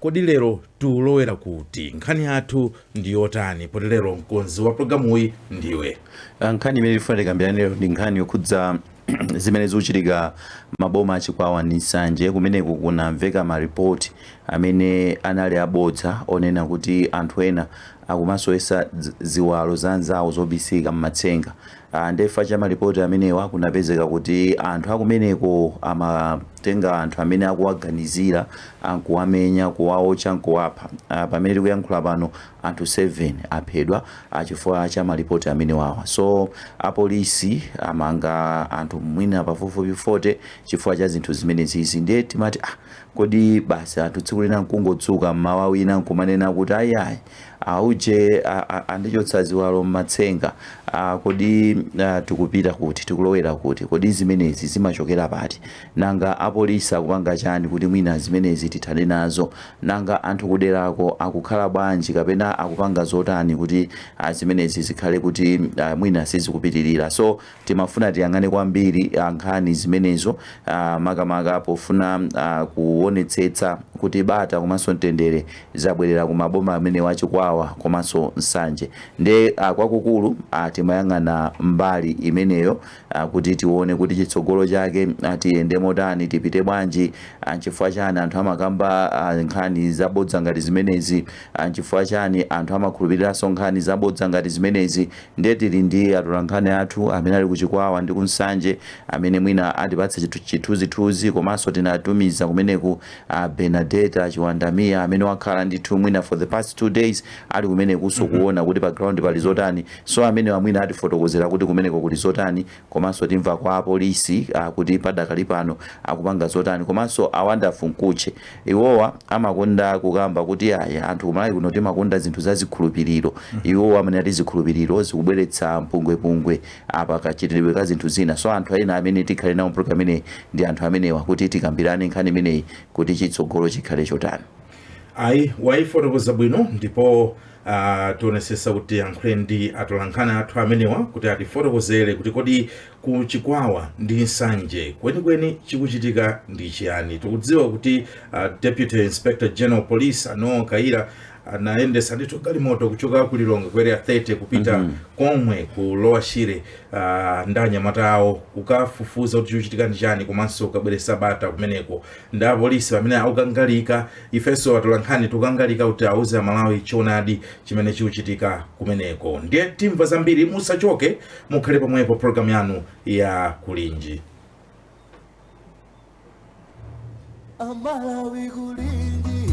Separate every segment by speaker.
Speaker 1: Kodi lero tiulowera kuti? Nkhani yathu ndi yotani poti lero mkonzi wa pulogalamuyi ndiwe? Ah, Nkhani imene tifuna
Speaker 2: tikambirane lero ndi nkhani yokhudza zimene zikuchitika maboma a Chikwawa ndi Nsanje kumeneko kunamveka maripoti amene anali abodza onena kuti anthu ena akumasowesa dzi- ziwalo za anzawo zobisika m'matsenga nde chifukwa cha malipoti amenewa kunapezeka kuti anthu akumeneko amatenga anthu amene akuwaganizira ankuwamenya, kuwaotcha nkuwapha. Pamene tikuyankhula pano anthu 7 aphedwa chifukwa cha malipoti amenewawa. So apolisi amanga anthu mwina pafupifupi 40 chifukwa cha zinthu zimenezizi. Ndiye timati ah, kodi basi anthu tsiku lina nkungodzuka mmawa wina nkumanena kuti ayi ayi Auje andichotsa ziwalo m'matsenga. Kodi tikupita kuti? Tikulowera kuti? Kodi zimenezi zimachokera pati? Nanga apolisi akupanga chani kuti mwina zimenezi tithane nazo? Nanga anthu kuderako akukhala bwanji kapena akupanga zotani kuti zimenezi zikhale kuti mwina sizikupitirira? So Timafuna tiyang'ane kwambiri nkhani zimenezo makamaka pofuna kuonetsetsa kuti bata komanso mtendere zabwerera ku maboma amenewa a Chikwawa komanso Nsanje nde kwakukulu timayang'ana mbali imeneyo kuti tione kuti chitsogolo chake tiyende motani, tipite bwanji, nchifukwa chani anthu amakamba nkhani zabodza ngati zimenezi, nchifukwa chani anthu amakhulupiriranso nkhani zabodza ngati zimenezi. Ndiye tili ndi atolankhani athu amene ali ku Chikwawa ndi ku Nsanje amene mwina atipatse chithunzithunzi komanso tinatumiza kumeneku Bernadetta Chiwanda Mia amene wakhala ndithu mwina for the past two days ali kumeneku kuona kuti pa ground pali zotani. So amenewa mwina atifotokozera kuti kumeneko kuli zotani Komanso timva kwa apolisi kuti padakali pano akupanga zotani komanso a Wonderful Mkhutche iwowa amakonda kukamba kuti ayi anthu ku Malawi kuno timakonda zinthu za zikhulupiriro iwowa amanena kuti zikhulupiriro zikubweretsa mpungwepungwe apa kachitidwe ka zinthu zina so anthu ena amene tikhale nawo mu program imeneyi ndi anthu amenewa kuti tikambirane nkhani imeneyi kuti chitsogolo chikhale chotani.
Speaker 1: ayi wayifotokoza bwino ndipo uh, tionesesa kuti tiyankhule ndi atolankhani athu amenewa kuti atifotokozere kuti kodi ku Chikwawa ndi Nsanje kwenikweni chikuchitika ndi chiyani tikudziwa kuti uh, deputy inspector general police a Noel Kayira anayendesa ndithu galimoto kuchoka ku Lilongwe ku Area 30 kupita mm -hmm. komwe ku Lower Shire uh, ndi anyamata awo kukafufuza kuti chikuchitika ndi chani komanso kukabweresa bata kumeneko Nde apolisi pamene akukangalika, ifenso atolankhani tikukangalika kuti awuze Amalawi choonadi chimene chikuchitika kumeneko. Ndiye timva zambiri musachoke mukhale pomwepo program yanu ya
Speaker 3: kulinji. Amalawi kulinji.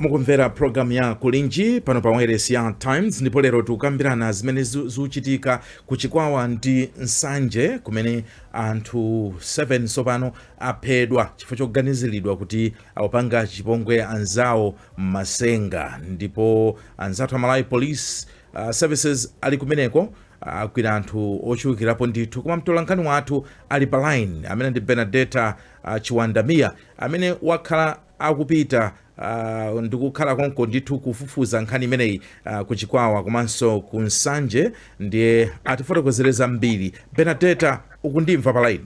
Speaker 1: mukumvera pulogalamu ya kulinji pano pa wailesi ya times ndipo lero tikukambirana zimene zu- zikuchitika ku Chikwawa ndi Nsanje kumene anthu 7 tsopano aphedwa chifukwa choganiziridwa kuti akupanga chipongwe anzawo m'masenga ndipo anzathu a malawi police uh, services ali kumeneko agwira anthu ochulukirapo ndithu koma mtolankhani wathu ali pa line amene ndi Benadeta uh, Chiwanda Mia amene wakhala akupita uh, ndikukhala konko ndithu kufufuza nkhani imeneyi uh, ku Chikwawa komanso ku Nsanje ndiye atifotokozere zambiri. Benadeta, ukundimva pa line?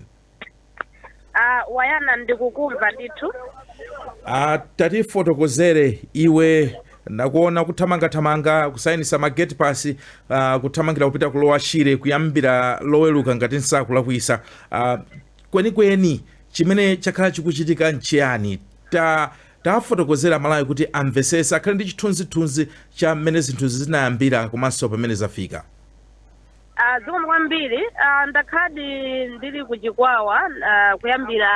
Speaker 1: Uh, wayana
Speaker 4: ndikukumva ndithu. Uh,
Speaker 1: tatifotokozere iwe nakuona kuthamangathamanga kusayinitsa ma gate pass uh, kuthamangira kupita ku Lower Shire kuyambira Loweruka ngati nsakulakwitsa uh, Kwenikweni chimene chakhala chikuchitika nchiyani? Ta, tawafotokozera Amalawi kuti amvetsetse, akhale ndi chithunzithunzi cha mmene zinthuzi zinayambira komanso pamene zafika. A,
Speaker 4: Zikomo kwambiri. A, Ndakhaladi ndili ku Chikwawa a, kuyambira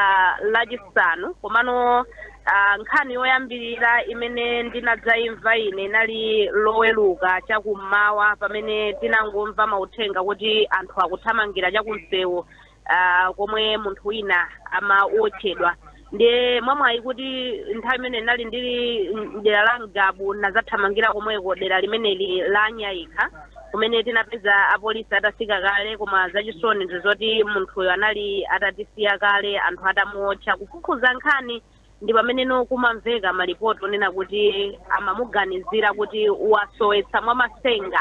Speaker 4: Lachisanu, komano a, nkhani yoyambirira imene ndinadzaimva ine inali Loweruka chakummawa pamene tinangomva mauthenga kuti anthu akuthamangira chakumsewu ah, komwe munthu wina amawotchedwa ndiye mwamwayi kuti nthawi imene ndinali ndili mdera la Ngabu nazathamangira komweko dera limeneli la Nyayikha kumene tinapeza apolisi atafika kale koma zachisoni ndi zoti munthuyo anali atatisiya kale anthu atamuwotcha kufufuza nkhani ndi pamene no kumamveka malipoti onena kuti amamuganizira kuti wasowetsa mwa masenga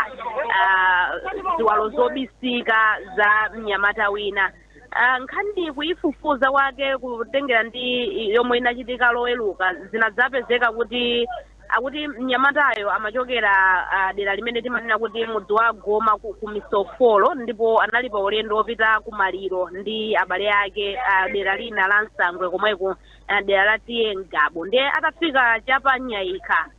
Speaker 4: ah, ziwalo zobisika za mnyamata wina Ah, nkhani kuyifufuza kwake kutengera ndi yomwe inachitika Loweruka zinadzapezeka kuti Akuti mnyamatayo amachokera dera limene timanena kuti mudzi wa Goma ku Misofolo ndipo anali pa ulendo wopita ku maliro ndi abale ake dera lina la Nsangwe komweko dera la T/A Ngabu ndiye atafika cha pa Nyayikha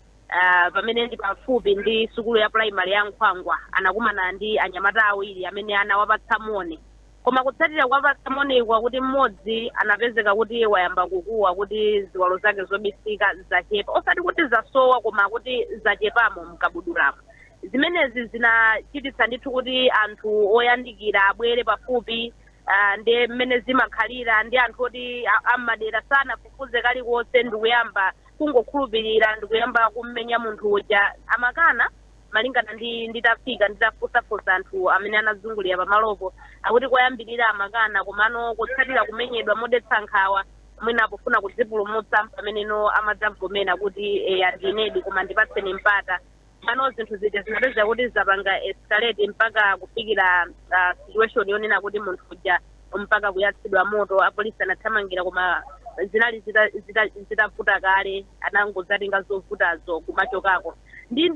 Speaker 4: pamene ndi pafupi ndi sukulu ya pulayimale ya Nkhwangwa anakumana ndi anyamata awiri amene anawapatsa moni. Koma kutsatira kuwapatsa moniyi akuti m'modzi anapezeka kuti wayamba kukuwa kuti ziwalo zake zobisika zachepa osati kuti zasowa koma kuti zachepamo mkabudulamo. Zimenezi zinachititsa ndithu kuti anthu oyandikira abwere pafupi ndiye m'mene zimakhalira ndi anthu oti a m'madera sanafufuze kalikonse ndikuyamba kungokhulupilira ndikuyamba kummenya munthu uja. Amakana. malingana nditafika nditafunsafunsa anthu amene anazungulira pamalopo akuti koyambirira amakana komano kutsatira kumenyedwa modetsa nkhawa mwina pofuna kudzipulumutsa pameneno amadzavomera kuti eya ndinedi koma ndipatseni mpata mano zinthu zija zinapezeka kuti zapanga escalate mpaka kufikira ah, situation yonena kuti munthu uja mpaka kuyatsidwa moto apolisi anathamangira koma zinali zita- zita- zitavuta kale anangozatenga zovutazo kumachokako ndiye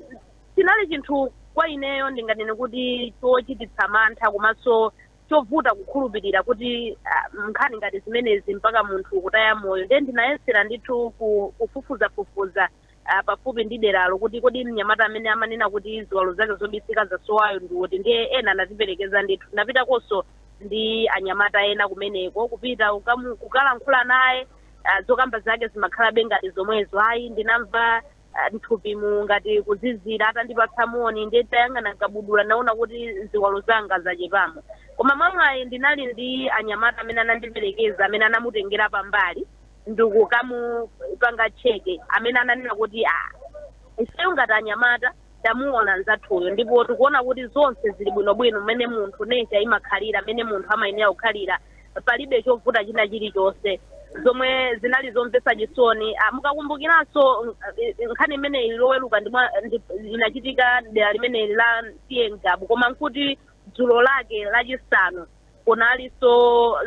Speaker 4: chinali chinthu kwa ineyo ndinganene kuti chochititsa mantha komanso chovuta kukhulupirira kuti ah, nkhani ngati zimenezi mpaka munthu kutaya moyo ndiye ndinayesera ndithu ku- kufufuzafufuza ah, pafupi ndi deralo kuti kodi mnyamata amene amanena kuti ziwalo zake zobisika zasowayo ndi uti ndiye ena anatiperekeza ndithu ndinapitakonso ndi anyamata ena kumeneko kupita kukamu- kukalankhula naye ah, zokamba zake zimakhalabe ngati zomwezo ayi ndinamva ah, mthupimu ngati kuzizira atandipatsa moni ndiye ntayang'ana mkabudula naona kuti ziwalo zanga zachepamo koma mwamwayi ndinali ndi anyamata amene anandiperekeza amene anamutengera pambali ndikukamupanga cheke amene ananena kuti ah, ifeyo ngati anyamata tamuona nzathuyo ndipo tikuona kuti zonse zili bwinobwino mmene munthu nature imakhalira mmene munthu amayenera kukhalira palibe chovuta china chilichonse zomwe zinali zomvetsa chisoni Ah, mukakumbukiranso mm, eh, nkhani imeneyi ili loweruka ndi mwa- ndi- inachitika mdera limeneli la T/A Ngabu koma nkuti dzulo lake lachisanu kunalinso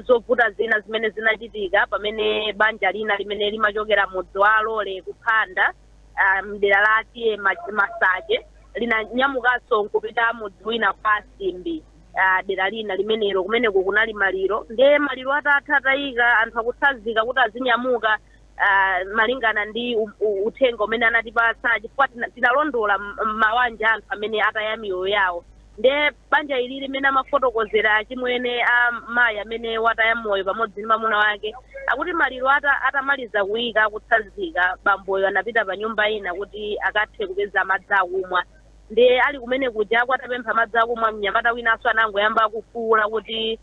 Speaker 4: zovuta zina zimene zinachitika pamene banja lina limene limachokera mudzi wa alole kuphanda ah, mdera la T/A Ma- Masache linanyamukanso nkupita mudzi wina kwa asimbi ah, dera lina limenelo kumeneko kunali maliro ndiye maliro atatha atayika anthu akutsazika kuti azinyamuka ah, malingana ndi u- u- uthenga umene anatipatsa chifukwa tina- tinalondola m- mawanja anthu amene ataya miyoyo yawo Nde banja ilili mmene amafotokozera achimwene a mayi amene wataya moyo pamodzi ndi mamuna wake akuti maliro ata atamaliza kuika akutsazika bamboyo anapita pa nyumba ina kuti akathe kupeza madzi akumwa ndiye ali kumene kujaku atapempha madzi akumwa mnyamata winanso anangoyamba kufuula kuti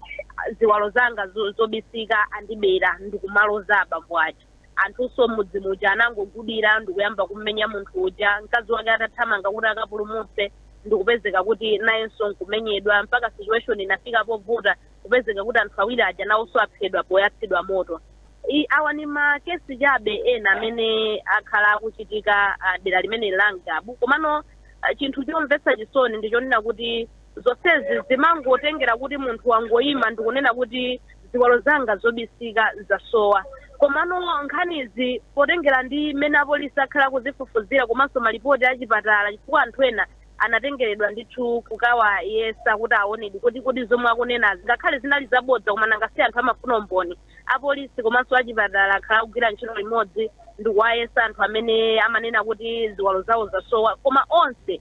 Speaker 4: ziwalo zanga zobisika andibera ndikumaloza abambo aja. Anthunso m'mudzi muja anangogudira ndikuyamba kummenya munthu uja, mkazi wake atathamanga kuti akapulumutse ndikupezeka kuti nayenso nkumenyedwa mpaka situation inafika povuta kupezeka kuti anthu awiri aja nawonso aphedwa poyatsidwa moto. I, awa ndi ma case chabe ena amene akhala akuchitika ah, dera limeneli la Ngabu. Komano ah, chinthu chomvetsa chisoni ndi chonena kuti Zonsezi zimangotengera kuti munthu wangoima ndikunena kuti ziwalo zanga zobisika zasowa. Komano nkhanizi potengera ndi mmene apolisi akhala akuzifufuzira komanso malipoti a chipatala chifukwa anthu ena anatengeredwa ndithu kukawayesa kuti awonedi kuti kodi zomwe akunenazi ngakhale zinali zabodza koma nanga si anthu amafuna umboni, apolisi komanso achipatala akhala akugwira ntchito limodzi ndikuwayesa anthu amene amanena kuti ziwalo zawo zasowa koma onse.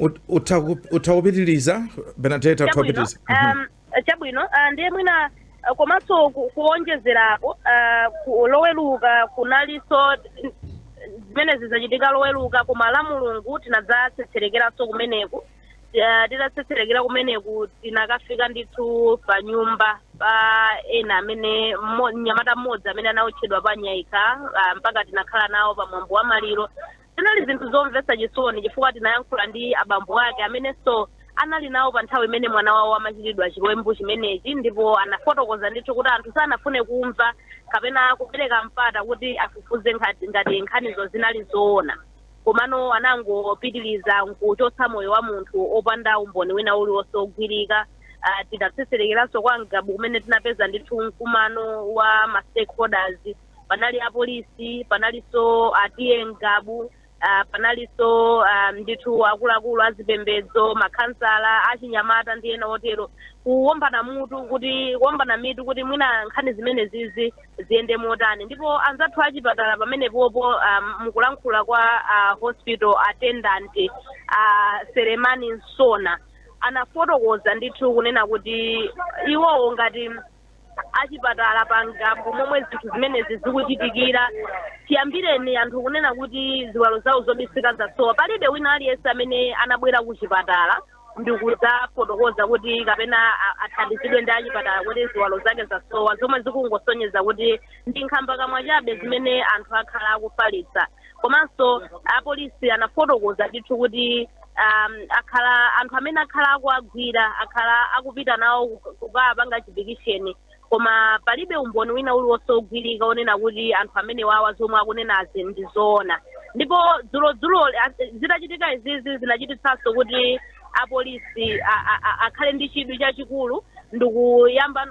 Speaker 1: Ut- utha ku- utha kupitiriza Benadeta utha chabwino kupitiriza Mhm. um,
Speaker 4: chabwino uh, ndiye mwina uh, komanso ku- kuonjezerapo uh, ku- loweruka kunalinso n- zimenezi zachitika loweruka koma Lamulungu tinadzatsetserekeranso kumeneko uh, titatsetserekera kumeneko tinakafika ndithu pa nyumba pa ena amene mmo- mnyamata mmodzi amene anaotchedwa pa Nyaika uh, mpaka tinakhala nawo pa mwambo wa maliro Zinali zinthu zomvetsa chisoni chifukwa tinayankhula ndi abambo ake amenenso anali nawo pa nthawi imene mwana wawo amachitidwa chiwembu chimenechi ndipo anafotokoza ndithu kuti anthu sanafune kumva kapena kupereka mpata kuti afufuze nkhati- ngati nkhanizo zinali zoona komano anangopitiriza nkuchotsa moyo wa munthu opanda umboni wina uliwonse wogwirika Ah, tinatsetserekeranso kwa Ngabu kumene tinapeza ndithu mkumano wa ma stakeholders panali apolisi panalinso a T/A Ngabu uh, panalinso uh, ndithu akuluakulu azipembedzo makhansala achinyamata ndi ena otero kuwombana mutu kuti kuwombana mitu kuti mwina nkhani zimenezizi ziyende motani ndipo anzathu achipatala pamenepopo um, mukulankhula kwa uh, hospital attendant uh, Selemani Nsona anafotokoza ndithu kunena kuti iwowo ngati achipatala pa Ngabu momwe zinthu zimenezi zikuchitikira chiyambireni anthu kunena kuti ziwalo zawo zobisika zasowa palibe wina aliyense amene anabwera ku chipatala ndikudzafotokoza kuti kapena a- athandizidwe ndi achipatala kuti ziwalo zake zasowa zomwe zikungosonyeza kuti ndi nkhambakamwa chabe zimene anthu akhala akufalitsa komanso apolisi anafotokoza ndithu kuti um, akhala anthu amene akhala akuwagwira akhala akupita nawo ku- kukawapanga chipikisheni koma palibe umboni wina uliwonse ogwirika onena kuti anthu amenewawa zomwe akunenazi ndi zoona ndipo dzulodzulo zitachitika izizi zinachititsanso kuti apolisi akhale ndi chidwi chachikulu ndikuyamba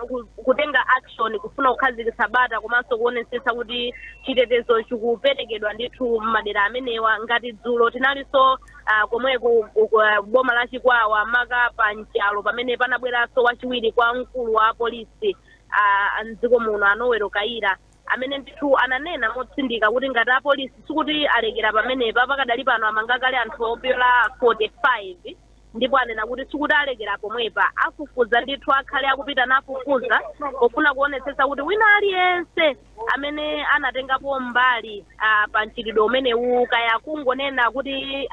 Speaker 4: kutenga action kufuna kukhazikitsa bata komanso kuonetsetsa kuti chitetezo chikuperekedwa ndithu m'madera amenewa ngati dzulo tinalinso uh, komweku uh, boma la chikwawa maka pa Nchalo pamene panabweranso wachiwiri kwa mkulu wa polisi uh, mdziko muno a Noel Kayira amene ndithu ananena motsindika kuti ngati apolisi sikuti alekera pamenepa, pakadali pano amanga kale anthu opyola 45 ndipo anena kuti sikuti alekera pomwepa, afufuza ndithu akhale akupita nafufuza pofuna kuonetsetsa kuti wina aliyense amene anatengapo mbali uh, pa mchitidwe umenewu kaya kungonena kuti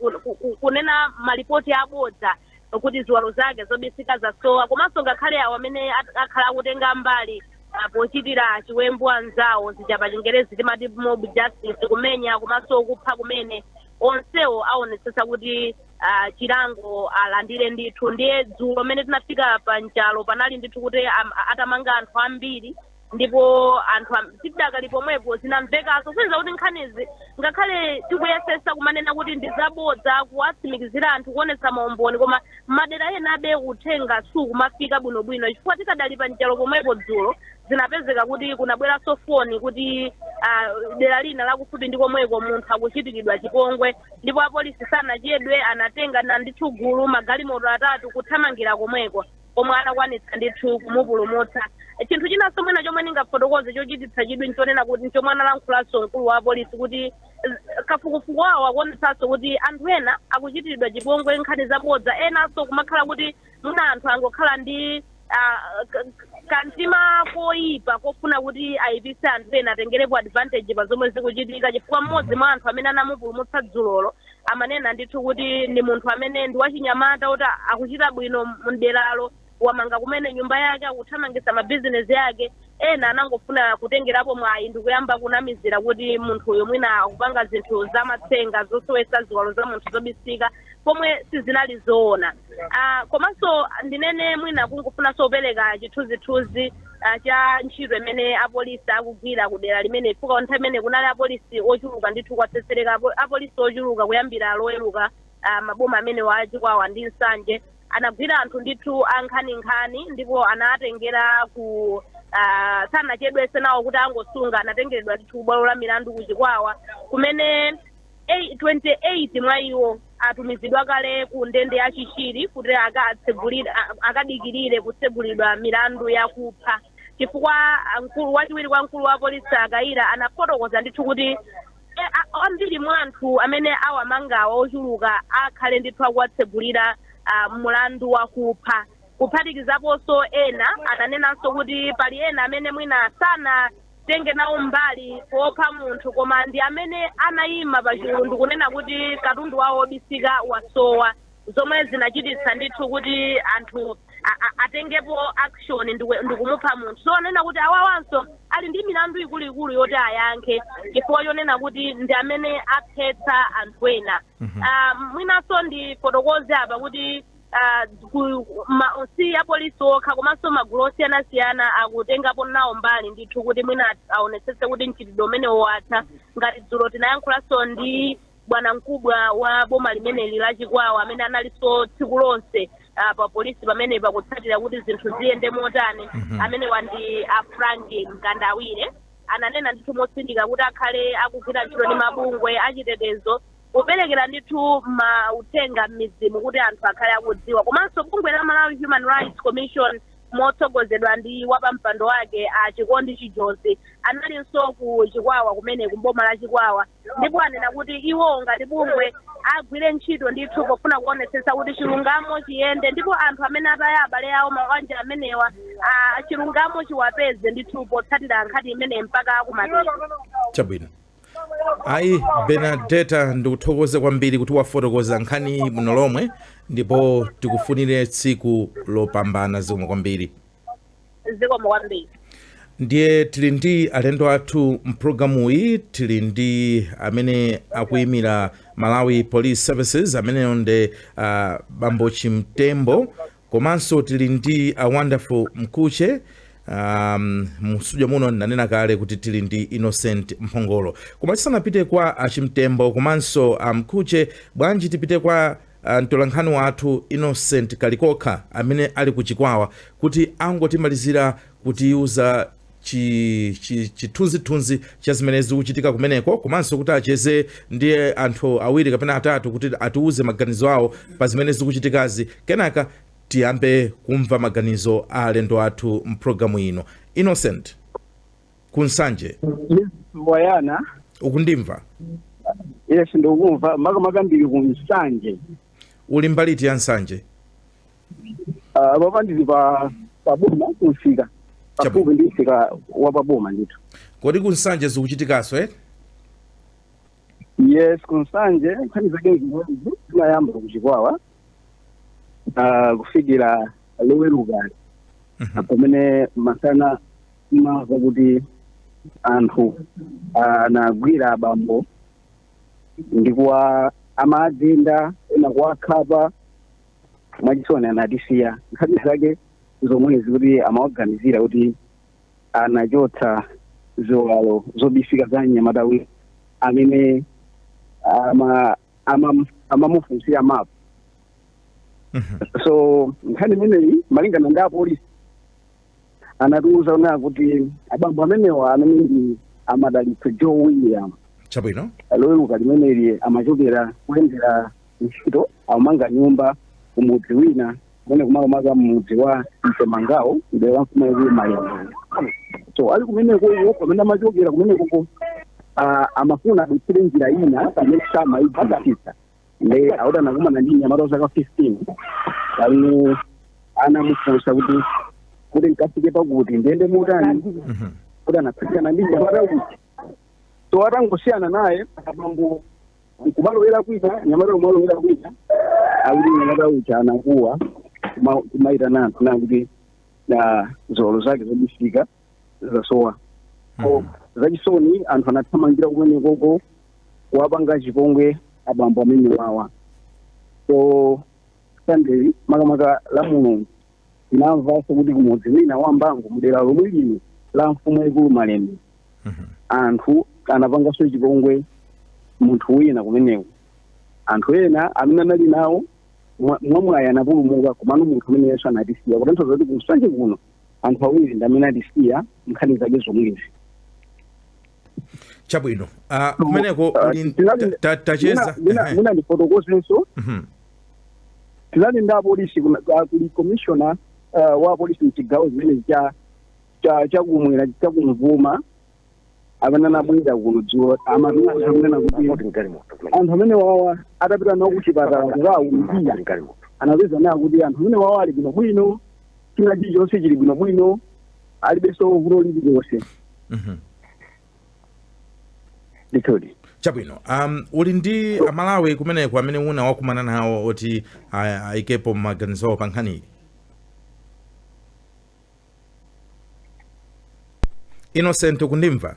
Speaker 4: uh, uh, kunena malipoti abodza kuti ziwalo zake zobisika zasowa komanso ngakhale awo amene at- akhala akutenga mbali ah, pochitira chiwembu anzawo zija pa chingerezi timati mob justice kumenya komanso kupha kumene onsewo aonetsetsa kuti ah, chilango alandire ndithu ndiye dzulo mmene tinafika pa Nchalo panali ndithu kuti am- atamanga anthu ambiri ndipo anthu am- tidakali pomwepo zinamvekanso kuyenza kuti nkhanizi ngakhale tikuyesesa kumanena kuti ndi zabodza kuwatsimikizira anthu kuonetsa maumboni koma madera enabe uthenga sukumafika bwinobwino chifukwa tikadali pa Nchalo pomwepo dzulo zinapezeka kuti kunabweranso foni kuti ah, dera lina lakufupi ndi komweko munthu akuchitikidwa chipongwe ndipo apolisi sanachedwe anatengana ndithu gulu magalimoto atatu kuthamangira komweko komwe anakwanitsa ndithu kumupulumutsa. Chinthu chinanso mwina chomwe ndingafotokoze chochititsa chidwi nchonena kuti nchomwe analankhulanso mkulu wa apolisi kuti z- kafukufuku wawo akuonetsanso kuti anthu ena akuchitiridwa chipongwe nkhani zabodza enanso kumakhala kuti mwina anthu angokhala ndi ah, k- k- kantima koyipa kofuna kuti ayipise anthu ena atengerepo advantage pa zomwe zikuchitika chifukwa mmodzi mwa anthu amene anamupulumutsa dzulolo amanena ndithu kuti ndi munthu amene ndi wachinyamata woti akuchita bwino mderalo wamanga kumene nyumba yake akuthamangisa mabizinezi ake ena anangofuna kutengerapo mwayi ndikuyamba kunamizira kuti munthuyo mwina akupanga zinthu zamatsenga zosowesa ziwalo za munthu zobisika pomwe sizinali zoona uh, komanso ndinene mwina kungofunanso kupereka chithunzithunzi ah, cha ntchito imene apolisi akugwira ku dera limeneli chifukwa nthawi imene kunali apolisi ochuluka ndithu kwatsetsereka apo- apolisi ochuluka kuyambira loweruka ah, maboma amenewa a Chikwawa ndi Nsanje anagwira anthu ndithu ankhaninkhani ndipo anatengera ku ah, sanachedwese nawo kuti angosunga anatengeredwa ndithu ku bwalo la milandu ku Chikwawa kumene 28 mwa iwo atumizidwa kale ku ndende ya Chichiri kuti akadikirire kutsegulidwa milandu yakupha chifukwa mkulu wachiwiri kwa mkulu wa polisi a Kayira anafotokoza ndithu kuti ambiri mwa anthu amene awamangawa ochuluka akhale ndithu akuwatsegulira mulandu wakupha kuphatikizaponso ena ananenanso kuti pali ena amene mwina sana tenge nawo mbali popha munthu koma ndi amene anayima pa chulu ndikunena kuti katundu wawo wobisika wasowa zomwe zinachititsa ndithu kuti anthu a- a- atengepo action ndiku- ndikumupha munthu so ananena kuti awawanso ali ndi milandu ikuluikulu yoti ayankhe chifukwa chonena kuti ndi amene aphetsa anthu ena Mhm. Ah, mwinanso ndifotokoze apa kuti uh, kuma- si apolisi okha komanso magulu osiyanasiyana akutengapo nawo mbali ndithu kuti mwina at- aonetsetse kuti mchitidwe umenewu watha ngati dzulo tinayankhulanso ndi bwanamkubwa wa boma limeneli la Chikwawa amene analinso tsiku lonse uh, pa polisi pamene pakutsatira kuti zinthu ziyende motani Mhm. amenewa ndi a Frank Mkandawire ananena ndithu motsindika kuti akhale akugwira ntchito ndi mabungwe achitetezo kuperekera ndithu mauthenga m'midzimu kuti anthu akhale akudziwa komanso bungwe la Malawi Human Rights Commission motsogozedwa ndi wapampando wake a Chikondi Chijozi analinso ku Chikwawa kumeneku m'boma la Chikwawa ndipo anena kuti iwo ngati bungwe agwire ntchito ndithu pofuna kuonetsetsa kuti chilungamo chiyende ndipo anthu amene ataya abale awo mabanja amenewa ah, chilungamo chiwapeze ndithu potsatira nkhani imeneyi mpaka kumapeto Chabwino.
Speaker 1: Ayi Benadeta ndikuthokoze kwambiri kuti wafotokoza nkhani iyi bwino lomwe ndipo tikufunire tsiku lopambana zikomo kwambiri. zikomo
Speaker 4: kwambiri
Speaker 1: ndiye tili ndi alendo athu mpulogalamu iyi tili ndi amene akuyimira Malawi Police Services ameneyo ndi uh, bambo Chimtembo Komanso tili ndi a Wonderful Mkhutche um, mu studio muno ndanena kale kuti tili ndi Innocent Mphongolo. Koma tisanapite kwa a Chimtembo komanso a Mkhutche, bwanji tipite kwa uh, mtolankhani wathu Innocent Kalikokha amene ali ku Chikwawa kuti angotimalizira kutiuza chithunzithunzi chi, chi cha zimene zikuchitika kumeneko komanso kuti acheze ndi anthu awiri kapena atatu kuti atiuze maganizo awo pa zimene zikuchitikazi kenaka tiyambe kumva maganizo a alendo athu mpulogalamu ino Innocent ku
Speaker 5: Nsanje mwayana ukundimva yes ndikukumva makamaka ndili ku Nsanje uli mbali
Speaker 1: iti ya Nsanje
Speaker 5: Ah, panopa ndili pa paboma kumsika pafupi ndi msika wa paboma ndithu kodi ku
Speaker 1: nsanje zikuchitikanso eh?
Speaker 5: yes kunsanje nkhani zake zinayamba kuchikwawa ah, kufikira loweruka pamene masana tinamva kuti anthu anagwira abambo ndi kuwagenda ena kuwakhapa mwachisoni anatisiya nkhani zake zomwezi kuti amawaganizira kuti anachotsa ziwalo zobisika za mnyamata wina amene ama- ama- amamufunsira mapu Mhm. so nkhani imeneyi malingana ndi apolisi anatiuza kunena kuti abambo amenewa amene ndi a Madalitso Joe William chabwino
Speaker 1: loweruka limeneli
Speaker 5: amachokera kuyendera ntchito amanga nyumba kumudzi wina kumeneku makamaka mudzi wa ntemangawo mdera la mfumu yaikulu malemia so ali kumeneko iwo pamene amachokera kumenekoko ah, amafuna adutsire njira ina pamene samaigwiritsa nde akuti anakumana ndi mnyamata wa zaka 15 pamene anamufunsa kuti kuti nkafike pakuti ndiyende motani Mhm. kuti anatsakana ndi nyamata uja so atangosiyana naye abambo kumalowera kwina nyamata kumalowera kwina akuti nyamata uja anakuwa kuma- kumaitana anthu nakuti ziwalo zake zobisika zasowa so zachisoni anthu anathamangira kumenekoko kuwapanga chipongwe abambo amene wawa so sunday makamaka la mulungu tinamvanso kuti kumudzi wina wa mbangu mudera lomwe lino la mfumu yaikulu malemia anthu anapanganso chipongwe munthu wina kumeneko anthu ena amene anali nawo mwa- mwamwayi anapulumuka komano munthu ameneyunso anatisiya kutanthauza kuti kunsanje kuno anthu awiri ndi amene atisiya nkhani zake
Speaker 1: zomwezi chabwino uh, kumeneko uh, uli tinali- ta- ta- tacheza ehe. mwina
Speaker 5: ndifotokozenso Mhm. tinali ndi apolisi kuna- ah, kuli commissioner ah, wa apolisi mchigawo chimene cha cha chakumwera chakumvuma amene anabwera kuno dzulo amatiuza kunena kuti anthu amene wawa atapita nawo kuchipatala kukawapima anapeza kunena kuti anthu amene wawa ali bwino bwino china chilichonse chili bwino bwino alibenso vuto lililonse Mhm. ndithudi
Speaker 1: chabwino um, uli ndi amalawi kumeneko amene una wakumana nawo oti ah, ayikepo maganizo awo pa nkhaniyi innocent
Speaker 5: ukundimva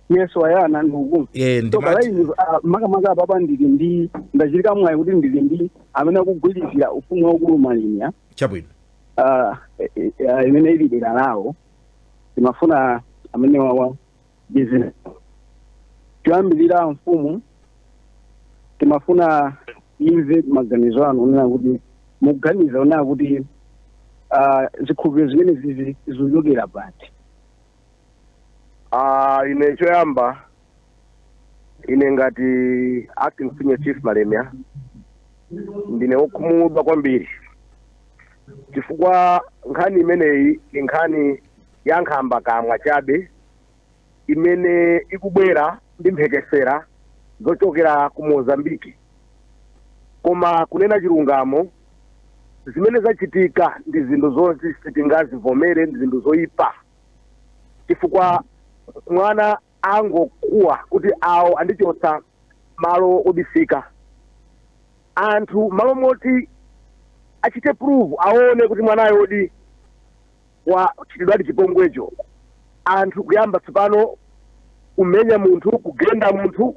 Speaker 5: yes wayana ndikukumva Eh, ndi so mati- kalaini uh,
Speaker 1: makamaka
Speaker 5: apapa ndili ndi ndachitika mwayi kuti ndili ndi amene akugwirizira ufumu waukulu malemia
Speaker 1: chabwino uh, imene
Speaker 5: ili dera lawo timafuna amene wawa ndi zina choyambirira mfumu timafuna imve maganizo anu onena kuti mukuganiza onena kuti ah, zikhulupiriro zimenezizi zikuchokera pati
Speaker 6: Ah, ine choyamba ine ngati acting senior chief malemia ndine wokhumudwa kwambiri chifukwa nkhani imeneyi ndi nkhani ya nkhambakamwa chabe imene ikubwera ndi mphekesera zochokera ku Mozambique. Koma kunena chilungamo, zimene zachitika ndi zinthu zoti sitingazivomere, ndi zinthu zoipa, chifukwa mwana angokuwa kuti awo andichotsa malo obisika. Anthu malo moti achite prove aone kuti mwanayo zoonadi wachitidwadi chipongwecho. Anthu kuyamba tsopano kumenya munthu, kugenda munthu,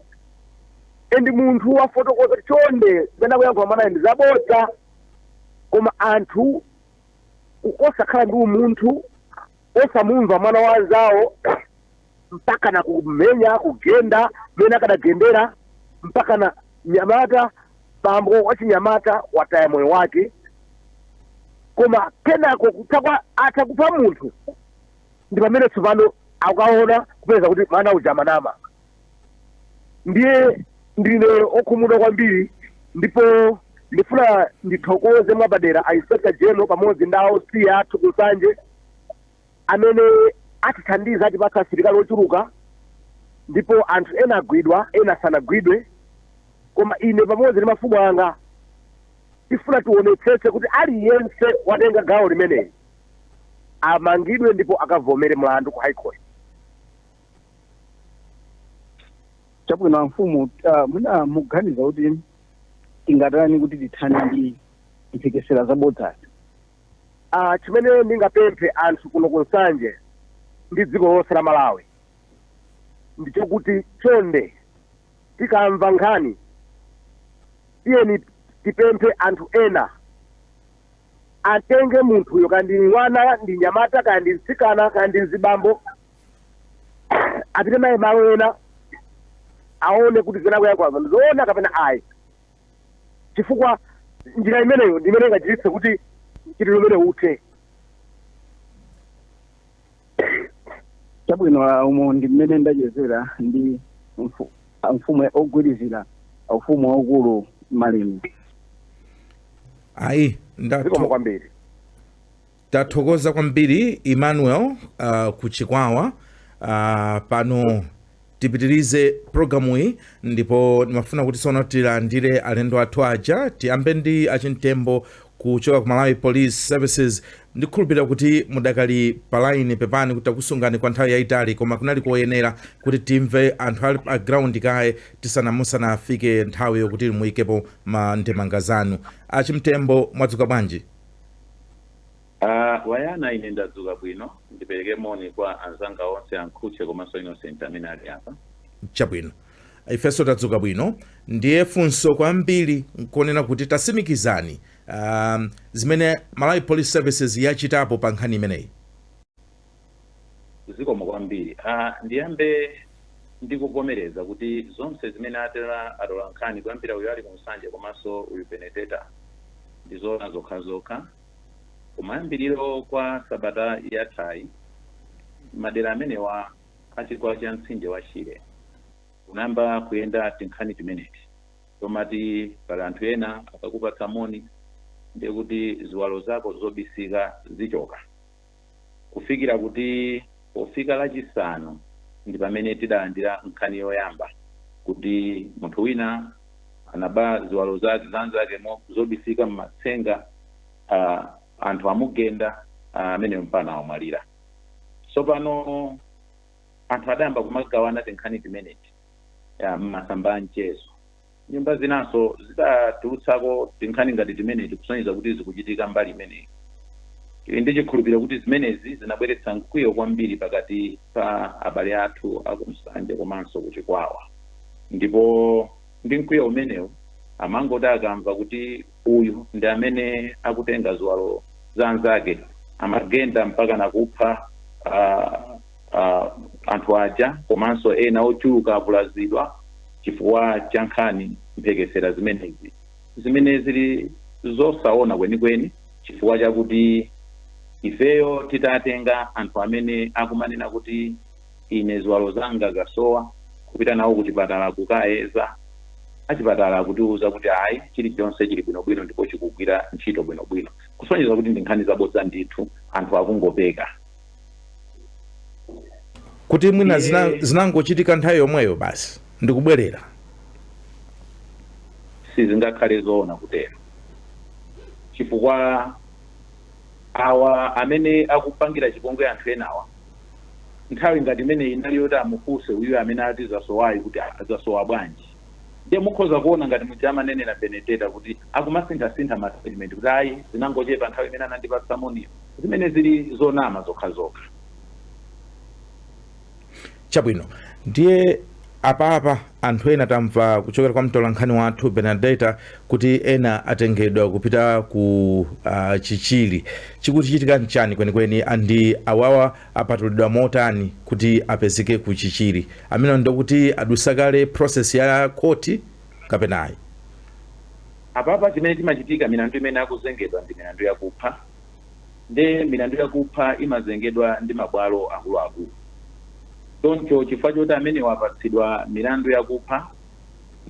Speaker 6: and munthu wafotokoza kuti chonde zimene akuyankhula mwanayo ndi zabodza, koma anthu ku- osakhala ndi umunthu, osamumva mwana wa nzawo mpaka na kumenya kugenda mene akadagendera mpaka na nyamata bambo wachinyamata wataya moyo wake koma kenako kutakwa atakupha munthu ndi pamene tsopano akaona kupeza kuti mwana uja amanama ndiye ndine okhumudwa kwambiri ndipo ndifuna ndithokoze mwapadera a inspector general pamodzi ndi a OC athu ku nsanje amene atithandiza atipatsa asilikali ochuluka ndipo anthu ena agwidwa ena sanagwidwe koma ine pamodzi ndi mafumu anga tifuna tionetsetse kuti aliyense watenga gawo limeneli amangidwe ndipo akavomere mlandu ku high
Speaker 5: court chabwino amfumu uh, mwina mukuganiza kuti tingatani kuti tithane ndi mphekesera zabodzazi
Speaker 6: Aaa chimene ndingapemphe anthu kuno ku Nsanje ndi dziko lonse la Malawi ndi chokuti chonde tikamva nkhani tiyeni tipemphe anthu ena atenge munthuyo kaya ndi mwana ndi mnyamata kaya ndi mtsikana kaya ndi mzibambo apite naye malo ena aone kuti zimene akuyankhula ndizoona kapena ayi. chifukwa njira imeneyo ndi imene ingachititse kuti mchitidwe umenewu
Speaker 5: uthe chabwino ah, umo ndi mmene ndachezera ndi mfu- ah, mfumu ogwirizira ufumu waukulu Malembe ayi
Speaker 1: zikomo ndathokoza kwambiri Tathokoza kwambiri Emmanuel uh, ku Chikwawa uh, pano tipitirize programuyi ndipo ndimafuna kuti sono tilandire alendo athu aja tiyambe ndi achimtembo kuchoka ku Malawi Police Services ndikhulupirira kuti mudakali palaini pepani kuti takusungani kwa nthawi yayitali koma kunali koyenera kuti timve anthu ali pa ground kaye tisana- musanafike nthawi yokuti muyikepo ma ndemanga zanu achimtembo mwadzuka bwanji
Speaker 7: Ah, Wayana ine ndadzuka bwino. Ndipereke moni kwa anzanga onse a Nkhutche komanso Innocent amene ali apa. Chabwino.
Speaker 1: Ifenso tadzuka bwino. Ndiye funso kwambiri nkonena kuti tasimikizani, ah, zimene Malawi Police Services yachitapo pa nkhani imeneyi.
Speaker 7: Zikomo kwambiri. A, ndiyambe ndi kuvomereza kuti zonse zimene anena atolankhani kuyambira uyu ali ku Nsanje komanso uyu Benedetta ndi zoona zokhazokha. Kumayambiriro kwa sabata yathayi, madera amenewa a chigwa cha mtsinje wa Shire kunayamba kuyenda tinkhani timeneti tomati pali anthu ena akakupatsa moni ndiye kuti ziwalo zako zobisika zichoka. kufikira kuti pofika Lachisanu ndi pamene tidalandira nkhani yoyamba kuti munthu wina anaba ziwalo za anzake mo- zobisika m'matsenga ah, anthu amugenda ah, amene mpakana wamwalira tsopano anthu adayamba kumagawana tinkhani timeneti ya, m'masamba a mchezo Nyumba zinanso zidatulutsako tinkhani ngati timeneti kusonyeza kuti zikuchitika mbali imeneyi. Tili ndi chikhulupiriro kuti zimenezi zinabweretsa mkwiyo kwambiri pakati pa abale athu a ku Nsanje komanso ku Chikwawa ndipo ndi mkwiyo umenewu amangoti akamva kuti uyu ndi amene akutenga ziwalo za anzake amagenda mpaka nakupha ah, ah, anthu aja komanso ena ochuluka avulazidwa chifukwa cha nkhani mphekesera zimenezi zimene zili zosaoona kwenikweni chifukwa chakuti ifeyo titatenga anthu amene akumanena kuti ine ziwalo zanga zasowa, kupita nawo kuchipatala kukayeza, achipatala akutiuza kuti ayi chilichonse chili bwinobwino ndipo chikugwira ntchito bwinobwino. Kusonyeza kuti ndi nkhani zabodza ndithu, anthu akungopeka.
Speaker 1: kuti mwina zinangochitika nthawi yomweyo basi
Speaker 7: ndikubwerera sizingakhale zoona kutero chifukwa awa amene akupangira chipongwe anthu enawa nthawi ngati imeneyi inali yoti amufunse uyuyu amene ati zasowayu kuti ah, zasowa bwanji ndiye mukhoza kuona ngati muja amanenera Bernadetta kuti akumasinthasintha ma statement kuti ayi zinangochepa nthawi imene anandipatsa moniyo zimene zili zonama
Speaker 1: zokhazokha chabwino ndiye apapa Anthu ena tamva kuchokera kwa mtolankhani wathu Bernadetta kuti ena atengedwa kupita ku uh, Chichiri. Chikuchitika nchani kwenikweni and awawa apatulidwa motani kuti apezeke ku Chichiri? Amene ndokuti adusa kale process ya khoti kapenayi?
Speaker 7: Apapa chimene chimachitika milandu imene akuzengedwa ndi milandu yakupha nde milandu yakupha imazengedwa ndi mabwalo akuluakulu choncho chifukwa choti amenewa apatsidwa milandu yakupha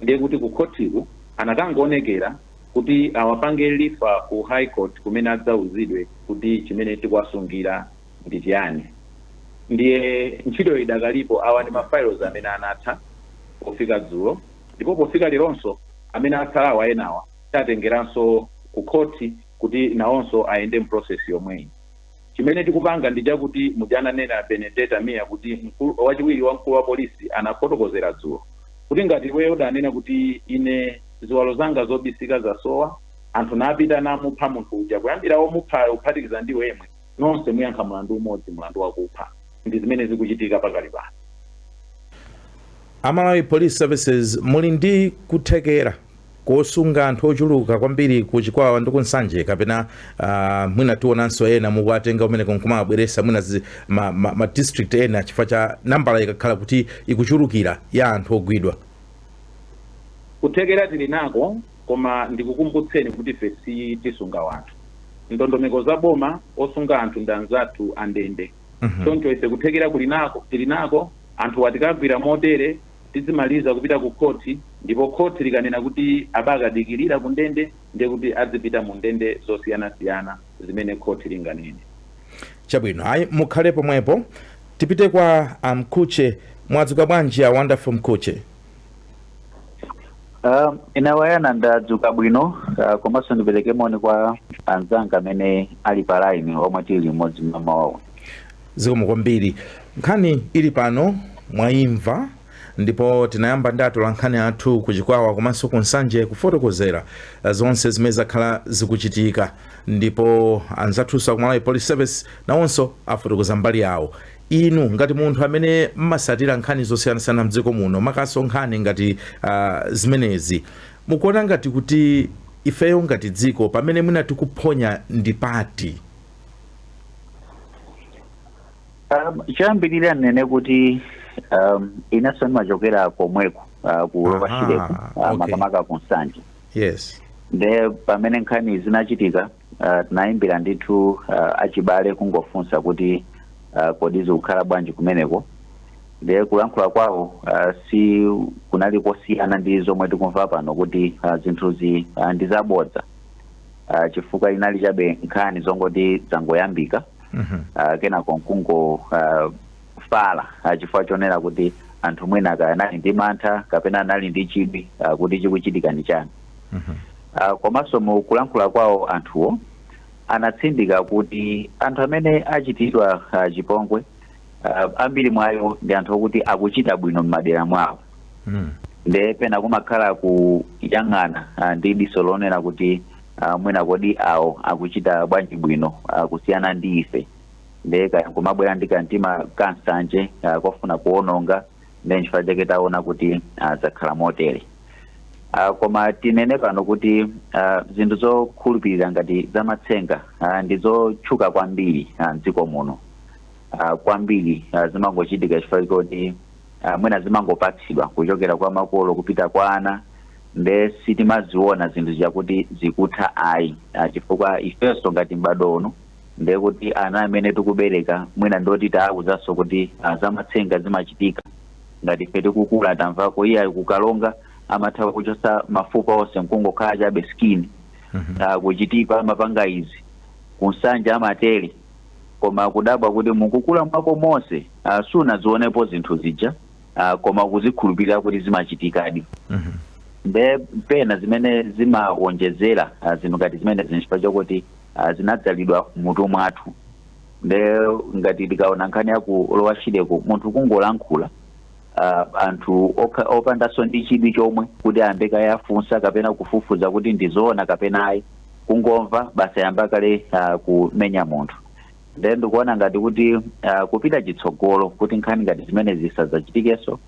Speaker 7: ndiye kuti ku khothiku anakangoonekera kuti awapange refer ku high court kumene adzauzidwe kuti chimene tikuwasungira ndi chiyani ndiye ntchito idakalipo awa ndi ma files amene anatha pofika dzulo ndipo pofika leronso amene atsalawa enawa tatengeranso ku khoti kuti nawonso ayende mu process yomweyi. Chimene tikupanga ndi chakuti muja ananena a Bernadetta Mia kuti mkulu, wachiwiri wa mkulu wa polisi anafotokozera dzulo kuti ngati iweyo udanena kuti ine ziwalo zanga zobisika zasowa, anthu napita namupha munthu uja kuyambira womuphayo kuphatikiza ndi iwe yemwe, nonse muyankha mlandu umodzi, mlandu wakupha. Ndi zimene zikuchitika pakali pano. A
Speaker 1: Malawi Police Services muli ndi kuthekera. kosunga anthu ochuluka kwambiri ku Chikwawa ndi ku Nsanje kapena uh, mwina tionanso ena mukuwatenga kumeneko nkumawabweresa mwina zi, ma, ma, ma district ena chifukwa cha nambala ikakhala kuti ikuchulukira ya anthu ogwidwa
Speaker 7: kuthekera tili nako koma ndikukumbutseni kuti ife sitisunga wanthu ndondomeko za boma osunga anthu ndi anzathu a ndende choncho ife kuthekera kuli tili nako anthu awa tikagwira motere tidzimaliza kupita ku khoti ndipo khoti likanena kuti awa akadikirire ku ndende ndiye kuti adzipita mu ndende zosiyanasiyana zimene khoti linganene. Chabwino
Speaker 1: ayi mukhale pomwepo tipite kwa a Mkhutche. Mwadzuka bwanji a Wonderful
Speaker 5: Mkhutche? Uh, Nawayana ndadzuka bwino uh, komanso ndipereke moni kwa
Speaker 8: anzanga amene ali pa line omwe tili limodzi mmamawa uno
Speaker 1: Zikomo kwambiri. Nkhani ili pano mwaimva ndipo tinayamba ndi atolankhani athu ku Chikwawa komanso ku Nsanje kufotokozera zonse zimene zakhala zikuchitika ndipo anzathunso a ku Malawi Police Service nawonso afotokoza mbali yawo. Inu ngati munthu amene mmasatira nkhani zosiyanasiyana mdziko muno makamakanso nkhani ngati ah, zimenezi mukuona ngati kuti ifeyo ngati dziko pamene mwina tikuphonya ndi pati?
Speaker 8: Um, choyambirira nnene kuti um, inenso ndimachokera komweko uh, ku Aha, Lower Shireko uh, okay. makamaka ku Nsanje yes
Speaker 1: nde
Speaker 8: pamene nkhani zinachitika uh, tinayimbira ndithu uh, achibale kungofunsa kuti uh, kodi zikukhala bwanji kumeneko nde kulankhula kwawo uh, sikunali kosiyana ndi zomwe tikumva pano kuti uh, zinthuzi uh, ndi zabodza uh, chifukwa zinali chabe nkhani zongoti zangoyambika Mhm. uh, kenako nkungo uh, fala uh, chifukwa chonena kuti anthu mwina kaya anali ndi mantha kapena anali ndi chidwi uh, kuti chikuchitika ndi chani Mhm. uh, komanso mu kulankhula kwawo anthuwo anatsindika kuti anthu amene achitidwa uh, chipongwe uh, ambiri mwa iwo ndi anthu okuti akuchita bwino m'madera mwawo mm. nde pena kumakhala kuyang'ana uh, ndi diso lonena kuti uh, mwina kodi awo akuchita bwanji bwino uh, kusiyana ndi ife nde kaya kumabwera ndi kamtima kansanje uh, kofuna kuononga nde nchifukwa chake taona kuti uh, zakhala motere Uh, koma tinene pano kuti uh, zinthu zokhulupirira ngati zamatsenga uh, ndi zotchuka kwambiri uh, mdziko muno ah, kwambiri ah, zimangochitika chifukwa choti ah, mwina zimangopatsidwa kuchokera kwa makolo kupita kwa ana nde sitimaziona zinthu zakuti zikutha ayi Ah, chifukwa ifenso ngati m'badwo uno nde kuti ana amene tikubereka mwina ndoti tawauzanso kuti ah, zamatsenga zimachitika ngati ife tikukula tamvako iyayi ku Karonga amatha kuchotsa mafupa onse nkungokhala chabe skin Ah, ku Chitipa amapanga izi ku Nsanje amatere koma kudabwa kuti mukukula mwako monse uh, sunazionepo zinthu zija uh, koma ukuzikhulupirira kuti zimachitikadi nde pena zimene zimawonjezera uh, zinthu ngati zimenezi nchifukwa chakuti uh, zinadzalidwa m'mutu mwathu nde ngati tikaona nkhani ya ku Lower Shireko munthu kungolankhula uh, anthu okha- opandanso ndi chidwi chomwe kuti ayambe kaye afunsa kapena kufufuza kuti ndizoona kapena ayi kungomva basi wayamba kale uh, kumenya munthu nde ndikuona ngati kuti uh, kupita chitsogolo kuti nkhani ngati zimenezi zisadzachitikenso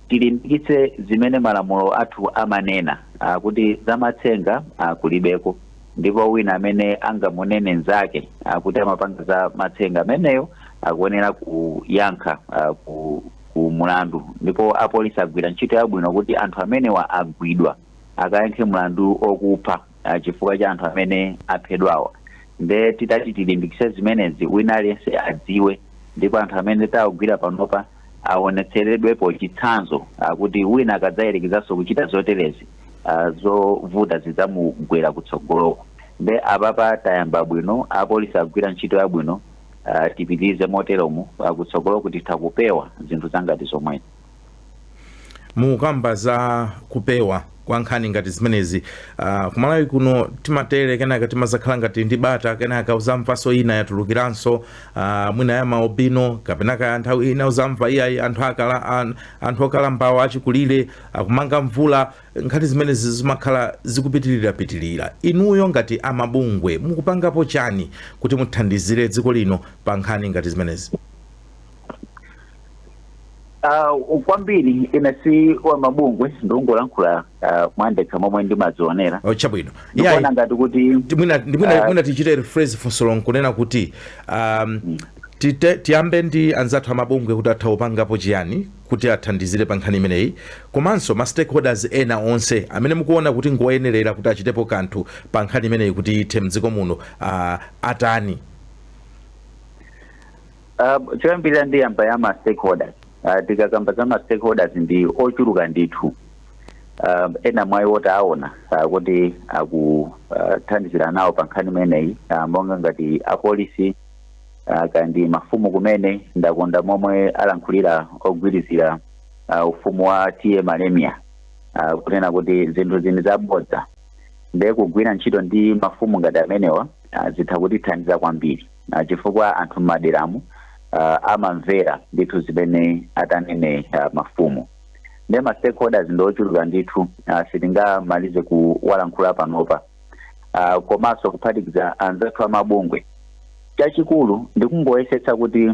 Speaker 8: tilimbikitse zimene malamulo athu amanena uh, kuti zamatsenga uh, kulibeko ndipo wina amene angamunene nzake uh, kuti amapanga za matsenga ameneyo akuyenera kuyankha uh, ku, ku mulandu ndipo apolisi agwira ntchito yabwino kuti anthu amenewa agwidwa akayankhe mulandu okupha uh, chifukwa cha anthu amene aphedwawa nde titati tilimbikise zimenezi wina aliyense adziwe ndipo anthu amene tawagwira panopa awonetseredwepo chitsanzo uh, kuti wina akadzayerekezanso kuchita zoterezi uh, zovuta zidzamugwera kutsogoloko nde apapa tayamba bwino apolisi agwira ntchito yabwino uh, tipitirize moteromo uh, kutsogoloko titha kupewa zinthu za ngati zomwezi
Speaker 1: mukamba za kupewa kwa nkhani ngati zimenezi uh, ku Malawi kuno timatero kenaka timazakhala ngati ndi bata kenaka uzamvanso ina yatulukiranso uh, mwina ya maalubino kapenanso nthawi ina uzamva iyayi anthu akala an, anthu okalambawo achikulire akumanga mvula nkhani zimenezi zimakhala zikupitirirapitirira inuyo ngati amabungwe mukupangapo chani kuti muthandizire dziko lino pa nkhani ngati zimenezi
Speaker 8: Uh, kwambiri ine si wa mabungwe ndikungolankhula uh, mwandekha momwe ndimazionera Oh, chabwino ndikuona Iyayi,
Speaker 1: ngati kuti
Speaker 8: ndi- mwina ndi- mwina- Ah. mwina tichite
Speaker 1: rephrase funso lonse kunena kuti um, tite- tiyambe ndi anzathu amabungwe kuti atha kupangapo chiyani kuti athandizire pa nkhani imeneyi komanso ma stakeholders ena onse amene mukuona kuti ngoyenerera kuti achitepo kanthu pa nkhani imeneyi kuti ithe mdziko muno uh, atani
Speaker 8: Uh, choyambirira ndiyamba ya ma stakeholders uh, tikakamba za ma stakeholders ndi ochuluka ndithu uh, ena mwa iwo taona uh, kuti akuthandizira uh, nawo pa nkhani imeneyi uh, monga ngati apolisi uh, kaya ndi mafumu kumene ndakonda momwe alankhulira ogwirizira uh, ufumu wa TA Malemia uh, kunena kuti zinthuzi ndi zabodza ndiye kugwira ntchito ndi mafumu ngati amenewa uh, zitha kutithandiza kwambiri ah, chifukwa anthu m'maderamu ah, amamvera ndithu zimene atanene ah, mafumu nde ma stakeholders ndi ochuluka ndithu ah, sitingamalize kuwalankhula panopa ah, komanso kuphatikiza anzathu amabungwe chachikulu ndi kungoyesetsa kuti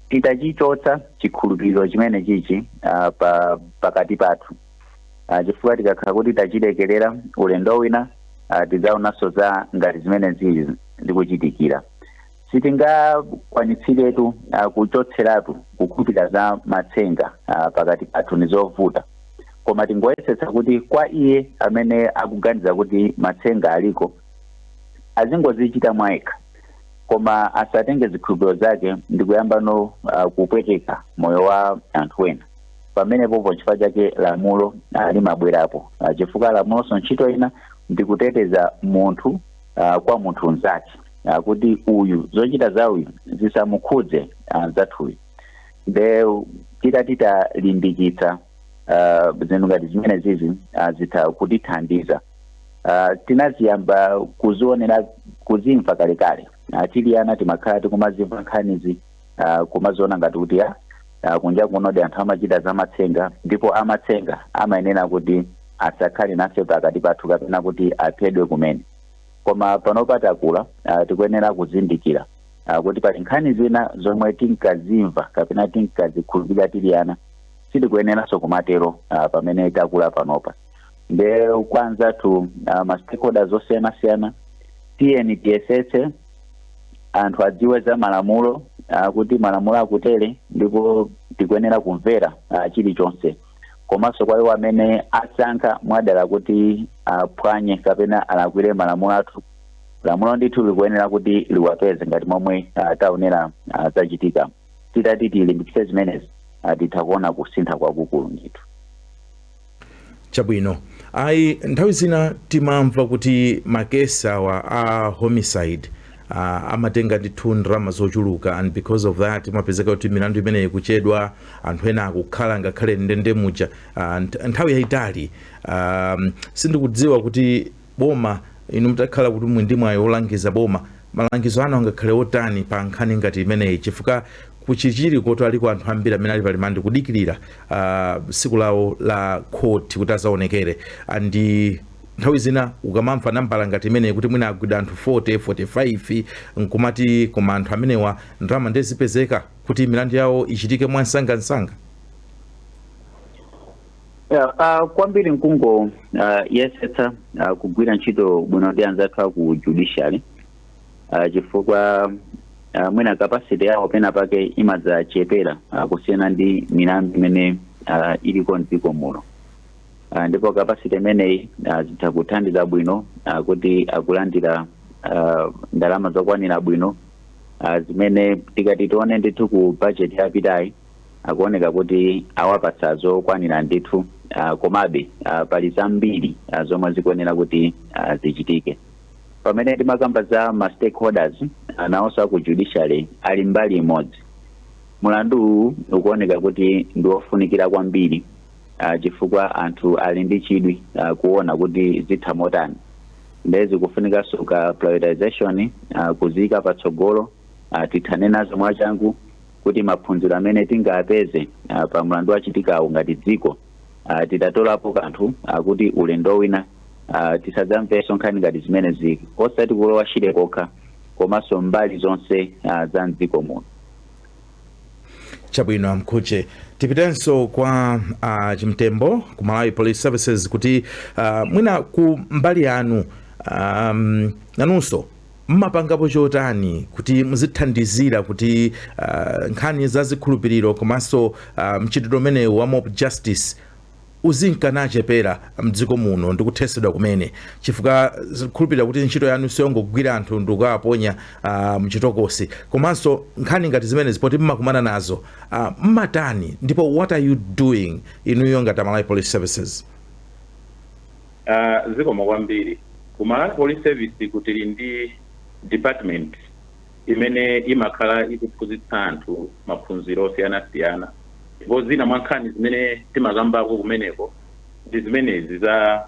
Speaker 8: titachichotsa chikhulupiriro chimenechichi ah, pa pakati pathu uh, chifukwa tikakhala kuti tachilekerera ulendo wina uh, tidzaonanso za ngati zimene zili n'kuchitikira sitingakwanitsiretu uh, kuchotseratu kukhulupirira za matsenga uh, pakati pathu ndi zovuta koma tingoyesetsa kuti kwa iye amene akuganiza kuti matsenga aliko azingozichita mwayekha koma asatenge zikhulupiriro zake ndi kuyambano uh, kupweteka moyo wa anthu ena pamenepopo n'chifukwa chake lamulo ah, limabwerapo Ah, chifukwa lamulonso ntchito ina ndi kuteteza munthu ah, kwa munthu mnzake Ah, kuti uyu zochita za uyu zisamukhudze ah, anzathuyu nde titati talimbikitsa ah, zinthu ngati zimene zizi ah, zitha kutithandiza Ah, tinaziyamba kuzionera kuzimva kalekale Ah, tili ana timakhala tikumazimva nkhanizi uh, kumaziona ngati kuti ya uh, kunja kunodi anthu amachita zamatsenga ndipo amatsenga amayenera kuti asakhale nafe pakati pathu kapena kuti aphedwe kumene koma panopa takula uh, tikuyenera kuzindikira uh, kuti pali nkhani zina zomwe tinkazimva kapena tinkazikhulupirira tili ana sitikuyeneranso kumatero uh, pamene takula panopa nde kwa anzathu uh, ma stakeholders osiyanasiyana tiyeni tiyesetse anthu adziwe za malamulo ah, kuti malamulo akutere ndipo tikuyenera kumvera ah, chilichonse komanso kwa iwo amene asankha mwadala kuti aphwanye kapena alakwire malamulo athu lamulo ndithu likuyenera kuti liwapeze ngati momwe ah, taonera ah, zachitika titati tilimbikitse zimenezi ah, titha kuona kusintha kwakukulu ndithu
Speaker 1: chabwino ayi nthawi zina timamva kuti makesi awa a homicide uh, amatenga ndithu ndalama zochuluka and because of that imapezeka kuti milandu imeneyi ikuchedwa anthu ena akukhala ngakhale ndende muja uh, nthawi yayitali um, sindikudziwa kuti boma. Inu mutakhala kuti muli ndi mwayi wolangiza boma, malangizo anu angakhale otani pa nkhani ngati imeneyi chifukwa ku Chichiriko tu aliko anthu ambiri amene ali pa limandi kudikirira tsiku lawo la khoti kuti adzaonekere and nthawi zina ukamamva nambala ngati imeneyi kuti mwina agwidwa anthu 40, 45 n'kumati koma anthu amenewa ndalama ndiye zipezeka kuti milandu yawo ichitike mwamsangamsanga?
Speaker 8: Yeah, uh, kwambiri n'kungo uh, yesetsa uh, kugwira ntchito bwino ndi anzathu aku judiciary uh, chifukwa uh, mwina capacity yawo pena pake imadzachepera uh, kusiyana ndi milandu imene uh, iliko mdziko muno uh, ndipo capacity imeneyi uh, zitha kuthandiza bwino uh, kuti akulandira uh, ndalama zokwanira bwino uh, zimene tikati tione ndithu ku budget yapitayi akuoneka kuti awapatsa zokwanira ndithu ah, komabe ah, pali zambiri ah, zomwe zikuyenera kuti ah, zichitike pamene timakamba za ma stakeholders ah, nawonso aku judiciary ali mbali imodzi mulandu uwu ukuoneka kuti ndi wofunikira kwambiri ah, chifukwa anthu ali ndi chidwi ah, kuona kuti zitha motani ndiye zikufunikanso ka prioritization ah, kuziyika patsogolo ah, tithane nazo mwachangu kuti maphunziro amene tingapeze ah, pa mlandu wachitikawo ngati dziko ah, titatolapo kanthu ah, kuti ulendo wina ah, tisadzamvenso nkhani ngati zimenezi osati ku Lower Shire kokha komanso mbali zonse ah, za mdziko
Speaker 1: muno chabwino a Mkhuche tipitenso kwa uh, chimtembo ku malawi police services kuti uh, mwina ku mbali yanu um, nanunso Mumapangapo chotani kuti muzithandizira kuti uh, nkhani za zikhulupiriro komanso uh, mchitidwe umenewu wa mob justice uzinka nachepera mdziko muno ndi kuthesedwa kumene chifukwa ndikhulupirira kuti ntchito yanu siyongogwira anthu ndikukawaponya uh, mchitokosi komanso nkhani ngati zimenezi poti mmakumana nazo uh, mmatani ndipo what are you doing inuyo ngati amalawi police services
Speaker 7: Ah zikomo kwambiri. Ku Malawi Police Serviceku tili ndi department imene imakhala ikuphunzitsa anthu maphunziro osiyanasiyana ndipo zina mwa nkhani zimene timakambako kumeneko ndi zimenezi za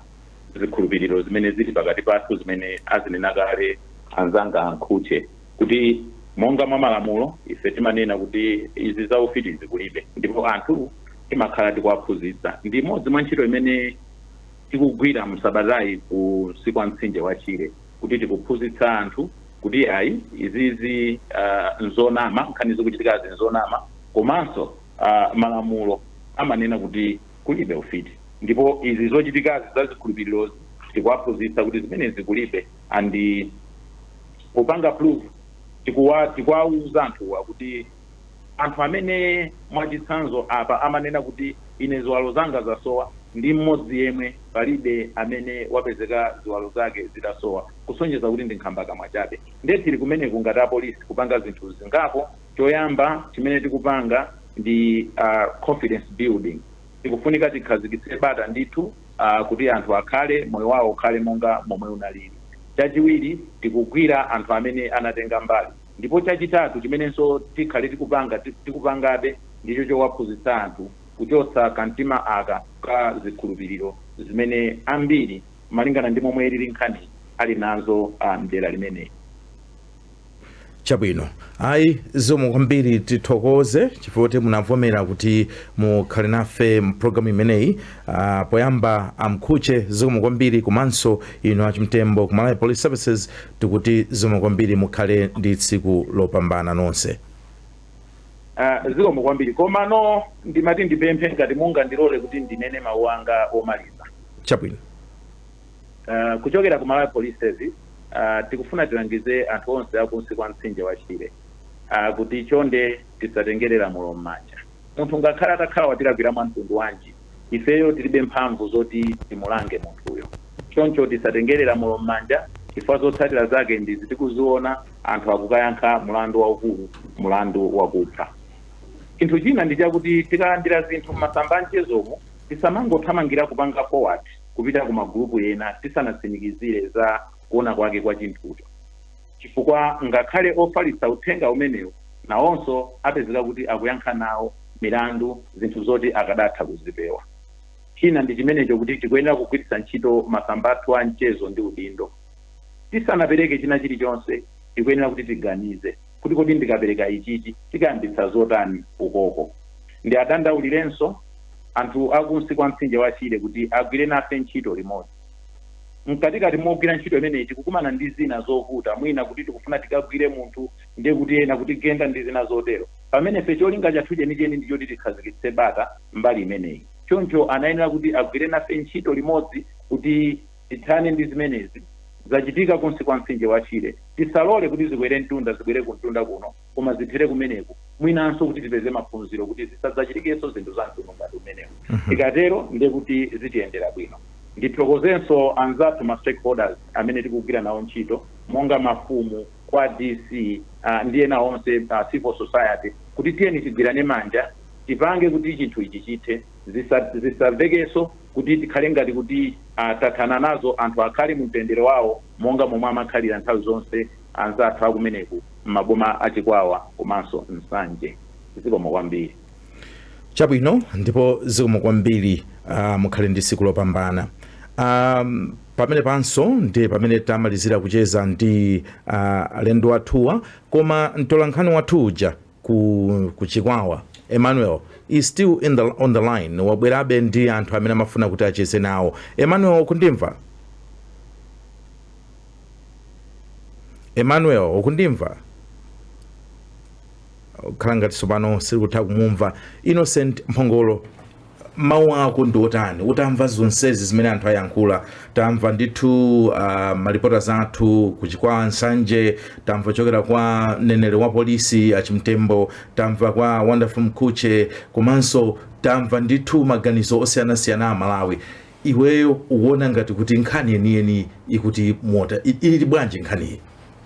Speaker 7: zikhulupiriro zimene zili pakati pathu zimene azinena kale anzanga a Mkhuche kuti monga mwa malamulo ife timanena kuti izi za ufitizi kulibe ndipo anthu timakhala tikuwaphunzitsa. Ndi imodzi mwa ntchito imene tikugwira msabatayi kunsi kwa mtsinje wa Shire kuti tikuphunzitsa anthu kuti ayi izizi uh, nzonama nkhani zikuchitikazi nzonama komanso uh, malamulo amanena kuti kulibe ufiti ndipo izi zochitikazi za zikhulupirirozi tikuwaphunzitsa kuti zimenezi kulibe andi kupanga proof tikuwa tikuwauza anthuwa kuti Anthu amene mwachitsanzo apa amanena kuti ine ziwalo zanga zasowa ndi mmodzi yemwe palibe amene wapezeka ziwalo zake zitasowa kusonyeza kuti ndi nkhambakamwa chabe nde tili kumeneku ngati apolisi kupanga zinthu zingapo choyamba chimene tikupanga ndi confidence building tikufunika tikhazikitse bata ndithu kuti anthu akhale moyo wawo ukhale monga momwe unalili chachiwiri tikugwira anthu amene anatenga mbali Ndipo chachitatu chimenenso tikhale tikupanga, tikupangabe, ndicho chowaphunzitsa anthu kuchotsa kamtima aka ka zikhulupiriro zimene ambiri, malingana ndi momwe ilili nkhaniyi, ali nazo a m'dera limeneli. Chabwino.
Speaker 1: Ayi, zikomo kwambiri. Tithokoze chifukwa choti munavomera kuti mukhale nafe m'programu imeneyi. Uh, poyamba a Mkhuche zikomo kwambiri komanso inu a Chimtembo ku Malawi Police Services tikuti zikomo kwambiri mukhale ndi tsiku lopambana nonse uh,
Speaker 7: zikomo kwambiri komano ndimati ndipemphe ngati mungandilole kuti ndinene mawu anga omaliza
Speaker 1: chabwino
Speaker 7: uh, kuchokera ku Malawi Police Service uh, tikufuna tilangize anthu onse a kunsi kwa mtsinje wa Shire uh, kuti chonde tisatengere lamulo m'manja Munthu ngakhale atakhala watilakwira mwa mtundu wanji, ifeyo tilibe mphamvu zoti timulange munthuyo. Choncho tisatengere lamulo m'manja chifukwa zotsatira zake ndizi tikuziona, anthu akukayankha mlandu waukulu, mlandu wakupha. Chinthu china ndi chakuti tikalandira zinthu m'masamba a mchezomu, tisamangothamangira kupanga forward kupita ku magulupu ena tisanatsimikizire za kuona kwake kwa chinthucho. Chifukwa ngakhale ofalitsa uthenga umenewu nawonso apezeka kuti akuyankha nawo milandu zinthu zoti akadatha kuzipewa. China ndi chimenecho kuti tikuyenera kugwiritsa ntchito masamba athu a mchezo ndi udindo. Tisanapereke china chilichonse tikuyenera kuti tiganize kuti kodi ndikapereka ichichi chikayambitsa zotani ukoko. Ndiwadandaulirenso anthu a kunsi kwa mtsinje wa Shire kuti agwire nafe ntchito limodzi. mkatikati mogwira ntchito imeneyi tikukumana ndi zina zovuta mwina kuti tikufuna tikagwire munthu ndiye kuti ena kutigenda ndi zina zotero pamene ife cholinga chathu chenicheni ndi choti tikhazikitse bata mbali imeneyi choncho anayenera kuti agwire nafe ntchito limodzi kuti tithane ndi zimenezi zachitika kunsi kwa mtsinje wa shire tisalole kuti zikwere mtunda zibwere kumtunda kuno koma zithere kumeneku mwinanso kuti tipeze maphunziro kuti zisadzachitikenso zinthu za mtundu ngati umenewu tikatero ndiye kuti zitiyendera bwino ndithokozenso anzathu ma stakeholders amene tikugwira nawo ntchito monga mafumu kwa dc uh, ndi ena onse uh, civil society kuti tiyeni tigwirane manja tipange kuti chinthu ichi chithe zisa- zisamvekenso kuti tikhale ngati kuti uh, tathana nazo anthu akhale mu mtendere wawo monga momwe amakhalira nthawi zonse anzathu akumeneku mmaboma a Chikwawa komanso Nsanje. Zikomo kwambiri. Chabwino
Speaker 1: ndipo zikomo kwambiri uh, mukhale ndi tsiku lopambana um, pamenepanso ndi pamene tamalizira kucheza ndi uh, alendo athuwa koma mtolankhani wathu uja ku, ku Chikwawa Emmanuel is still on the line wabwerabe ndi anthu amene amafuna kuti acheze nawo Emmanuel ukundimva Emmanuel ukundimva ukhala ngati tsopano sikutha kumumva Innocent Mphongolo mawu ako ndi otani utamva zonsezi zimene anthu ayankhula tamva ndithu uh, ah, malipota athu ku Chikwawa Nsanje tamva kuchokera kwa mneneri wa polisi a Chimtembo tamva kwa Wonderful Mkhutche komanso tamva ndithu maganizo osiyanasiyana a Amalawi iweyo uwona ngati kuti nkhani yeniyeni ikuti mota ili bwanji nkhaniyi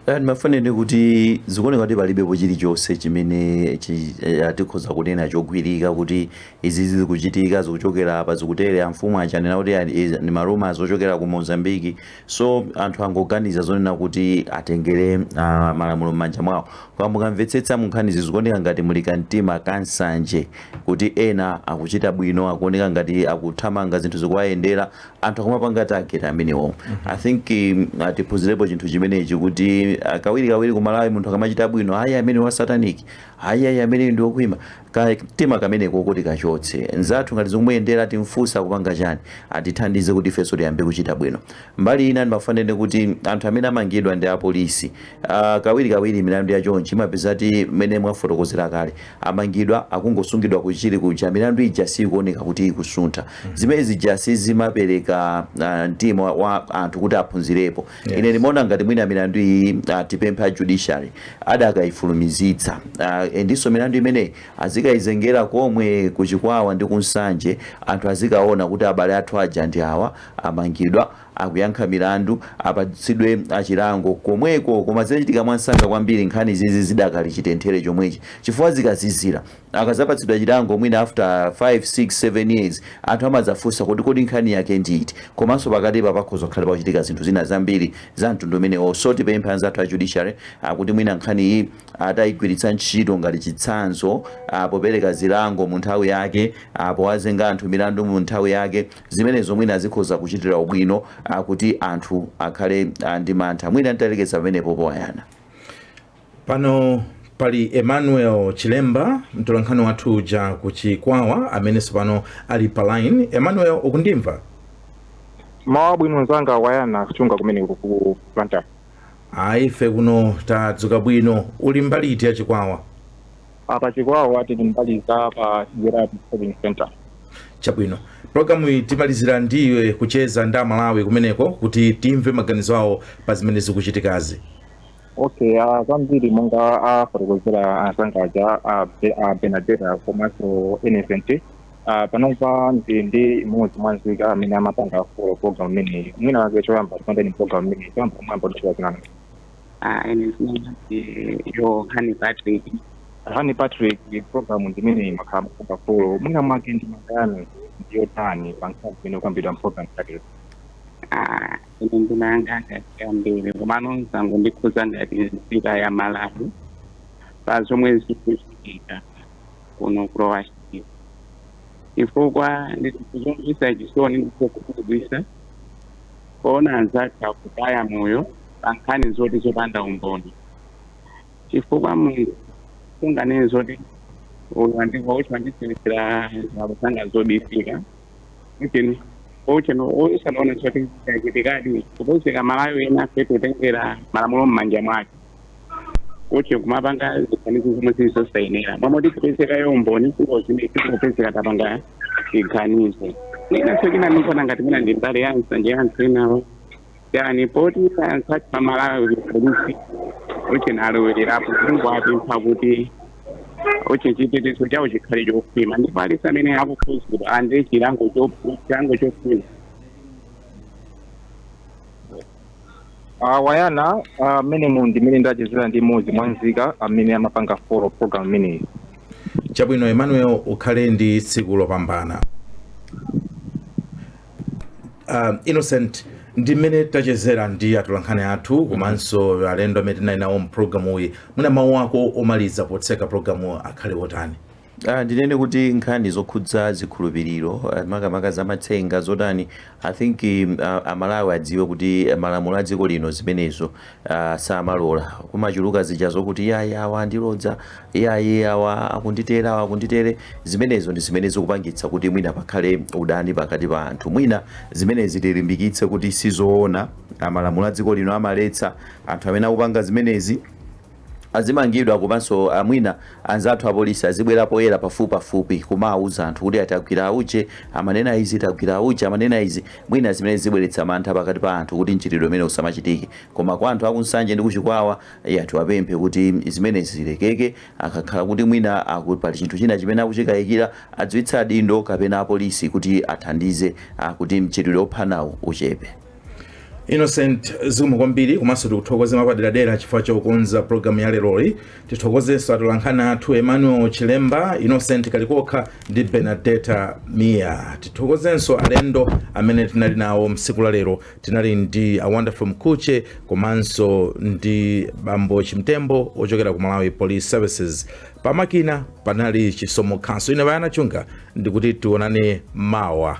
Speaker 2: Eh, ndimafuna ndinene kuti zikuoneka kuti palibepo chilichonse chimene chi- eh, tikhoza kunena chogwirika kuti izi zikuchitika zikuchokera apa zikutere amfumu aja akunena kuti ali- izi ndi ma rumour zochokera ku mozambiki so anthu angoganiza zonena kuti atengere ah, malamulo m'manja mwawo koma mukamvetsetsa munkhanizi zikuoneka ngati muli kamtima kansanje kuti ena akuchita bwino akuoneka ngati akuthamanga zinthu zikuwayendera anthu akumapanga target amenewo i think um, ah, tiphunzirepo chinthu chimenechi kuti ah, kawirikawiri ku Malawi munthu akamachita bwino ayi ameneyu wa satanic ayi ayi ameneyu ndi wokhwima Kamtima kameneko tikachotse mnzathu ngati zikumuyendera timfunse akupanga chiyani atithandize kuti ifenso tiyambe kuchita bwino mbali ina ndimafuna ndinene kuti anthu amene amangidwa ndi apolisi Uh, kawirikawiri milandu ya chonchi imapezeka kuti mmene mwafotokozera kale amangidwa akungosungidwa ku Chichiri kuja milandu ija siyikuoneka kuti ikusuntha mm -hmm. zimene zija sizimapereka uh, mtima wa- wa anthu kuti aphunzirepo Yes. ine ndimaona ngati mwina milandu iyi uh, tipemphe a judiciary akadayifulumizitsa uh, ndinso milandu imeneyi azikayizengera komwe ku Chikwawa ndi ku Nsanje anthu azikaona kuti abale athu aja ndi awa amangidwa akuyankha milandu apatsidwe chilango komweko koma zichitike mwansanga kwambiri nkhani zizi zidakali chitenthere chomwechi chifukwa zikazizira akadzapatsidwa chilango mwina after 5 6 7 years anthu amadzafunsa kuti kodi nkhani yake ndi iti komanso pakatipa pakhoza kukhala pakuchitika zinthu zina zambiri za mtundu umenewo so tipemphe anzathu a judiciary kuti mwina nkhani iyi atayigwiritsa ntchito ngati chitsanzo ah, popereka zilango mu nthawi yake ah, powazenga anthu milandu mu nthawi yake Zimenezo mwina zikhoza kuchitira ubwino a kuti anthu akhale a ndi mantha. Mwina nditalekeza pamenepopo Wayana. Pano
Speaker 1: pali Emmanuel Chilemba, mtolankhani wathu uja ku Chikwawa amene tsopano ali pa line. Emmanuel,
Speaker 9: ukundimva? Mmawa wabwino mnzanga Wayana kuchokera kumeneko ku- ku Blantyre Ayi, ife
Speaker 1: kuno tadzuka bwino. Uli mbali iti ya Chikwawa?
Speaker 9: Apa Chikwawa tili mbali za pa Chijeradi Trading Centre.
Speaker 1: Chabwino, pulogalamuyi timalizira ndi iwe kucheza ndi Amalawi kumeneko kuti timve maganizo awo pa zimene zikuchitikazi. Okay,
Speaker 9: ah, zambiri monga afotokozera anzanga aja ah, Be- ah, Benadeta komanso Innocent ah, panopa ndili ndi mmodzi mwa nzika amene amapanga folo program imeneyi mwina wake choyamba tilonjeni program imeneyi choyamba kumwamba dzina ndani Ah,
Speaker 10: ine dzina ndi Yohane Patrick Yohane patrick programu
Speaker 9: imeneyi mwakhala mukupanga folo mwina mwake ndemanga yanu ndi yotani pa nkhani zimene zikukambidwa mprogramu yathuyi Ah,
Speaker 10: ine ndemanga yanga ndi yambiri komano zangondikhudza ngati nzika ya malawi pa zomwe zikuchitika kuno ku Lower Shire chifukwa ndi zomvetsa chisoni ndi zokhumudwitsa kuona anzathu akutaya moyo pa nkhani zoti zopanda umboni. Chifukwa munthu sunganene zoti uyu wandibera uti wandisowetsera ziwalo zanga zobisika. Kuti uti usanaona zoti zachitikadi kupezeka amalawi enafe kutengera malamulo m'manja mwake. kuti kumapanga ziganizo zomwe zili zosayenera momwe sikupezekayo umboni ndiye tikupezeka tapanga chiganizo inanso china ndikuona ngati mwina ndi mbali ya nsanje ya anthu enawo ndiye poti anthu athu a Malawi Police uti analowererapo tikungowapempha kuti kuti chitetezo chawo chikhale chokhwima ndipo aliyense amene akukhudzidwa alandire chilango cho- chilango chokhwima
Speaker 9: Uh, eya uh, mmenemu ndi mmene ndachezera ndi mmodzi mwa nzika amene amapanga follow program imeneyi chabwino
Speaker 1: emmanuel ukhale ndi tsiku lopambana uh, innocent ndi mmene tachezera ndi atolankhani athu komanso alendo amene tinali nawo mpulogalamuyi mwina mawu ako omaliza potseka pulogalamu akhale otani Ah, ndinene
Speaker 2: kuti nkhani zokhudza zikhulupiriro ah, makamaka za matsenga zotani i think mm, ah, amalawi adziwe kuti malamulo a dziko lino zimenezo ah, samalola kumachuluka zija zokuti yayi awa andilodza yayi awa akunditere awa akunditere zimenezo ndi zimene zikupangitsa kuti mwina pakhale udani pakati pa anthu mwina zimenezi tilimbikitse kuti sizoona malamulo a dziko lino amaletsa anthu amene akupanga zimenezi azimangidwa komanso a mwina anzathu apolisi azibwera poyera pafupipafupi kumawuza anthu kuti tagwira auje amanena izi tagwira auje amanena izi mwina zimenezi zibweretsa mantha pakati pa anthu kuti mchitidwe umenewu usamachitike koma kwa anthu akunsanje ndi kuchikwawa ya tiwapemphe kuti zimenezi zilekeke akakhala kuti mwina aku, pali chinthu china chimene akuchikayikira adziwitse adindo kapena apolisi kuti athandize a, kuti mchitidwe ophanawu uchepe
Speaker 1: innocent zikomo kwambiri komanso tikuthokoze mwapaderadera chifukwa chokonza programu ya leroli tithokozenso atolankhani athu emmanuel chilemba innocent kalikokha ndi benadeta mia tithokozenso alendo amene tinali nawo msiku la lero tinali ndi a wonderful mkhutche komanso ndi bambo chimtembo ochokera ku malawi police services pamakina panali chisomo khanso ine bayana chunga ndikuti tionane mawa